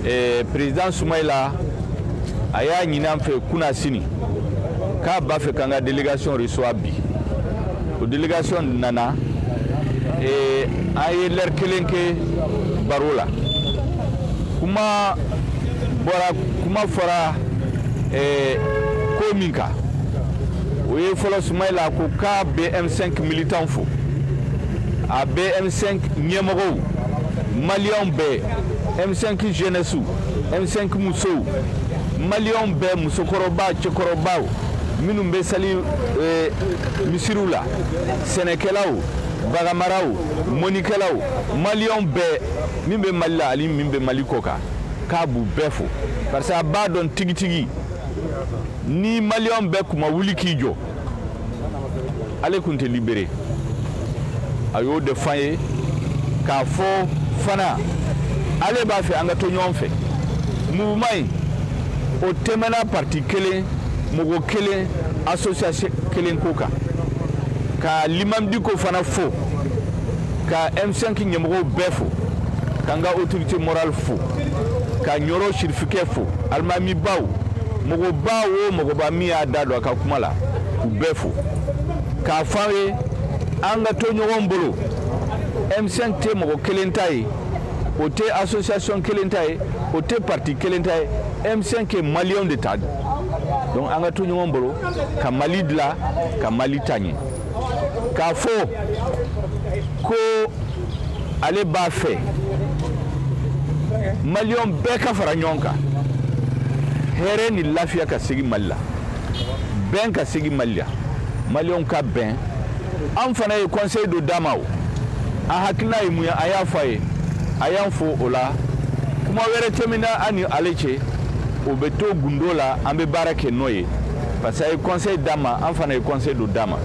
eh, président Soumaïla a y'a ɲini an fɛ kunasini k'a b'a fɛ k'an ka délégation reçoit bi o délégation nana eh, an ye lɛri kelen kɛ baro la kuma fɔra eh, ko min kan o ye fɔlɔ Soumaïla ko k'a bɛ M5 militant fo a bɛ M5 ɲɛmɔgɔw maliyɛnw bɛɛ m5 jeunesse m5 musow maliyɛnw bɛɛ musokɔrɔba cɛkɔrɔbaw minnu bɛ sali eh, misiriw la sɛnɛkɛlaw baganmaraw mɔnnikɛlaw maliyɛnw bɛɛ min bɛ mali la ani min bɛ mali kɔkan k'a b'u bɛɛ fo parce que a b'a dɔn tigitigi ni maliyɛnw bɛɛ kun ma wuli k'i jɔ ale kun tɛ libéré a y'o de f'an ye k'a fɔ fana ale b'a fɛ an ka to ɲɔgɔn fɛ mouvement in o tɛmɛna parti kelen mɔgɔ kelen association kelen ko kan ka limam Dicko fana fo ka m5 ɲɛmɔgɔw bɛɛ fo k'an ka autorité morale fo ka ɲɔrɔ sirifikɛ fo alimamibaw mɔgɔba o mɔgɔba min y'a da don a ka kuma la k'u bɛɛ fo k'a fɔ an ye an ka to ɲɔgɔn bolo m5 tɛ mɔgɔ kelen ta ye o tɛ association kelen ta ye o tɛ parti kelen ta ye m5 ye maliyɛnw de ta don donc an ka to ɲɔgɔn bolo ka mali dila ka mali taa ɲɛ k'a fɔ ko ale b'a fɛ maliyɛn bɛɛ ka fara ɲɔgɔn kan hɛrɛ ni lafiya ka segin mali la bɛn ka segin mali la maliyɛnw ka bɛn an fana ye conseil dɔ d'a ma o an hakilina ye mun ye an y'a fɔ a ye a y'an fo o la kuma wɛrɛ tɛmɛna an ni ale cɛ o bɛ to gundo la an bɛ baara kɛ n'o ye parce que a ye conseil d'an ma an fana ye conseil dɔ d'a ma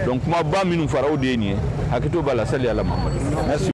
donc kumaba minnu fɔra o de ye nin ye hakɛto b'a la sali ala mahamadu merci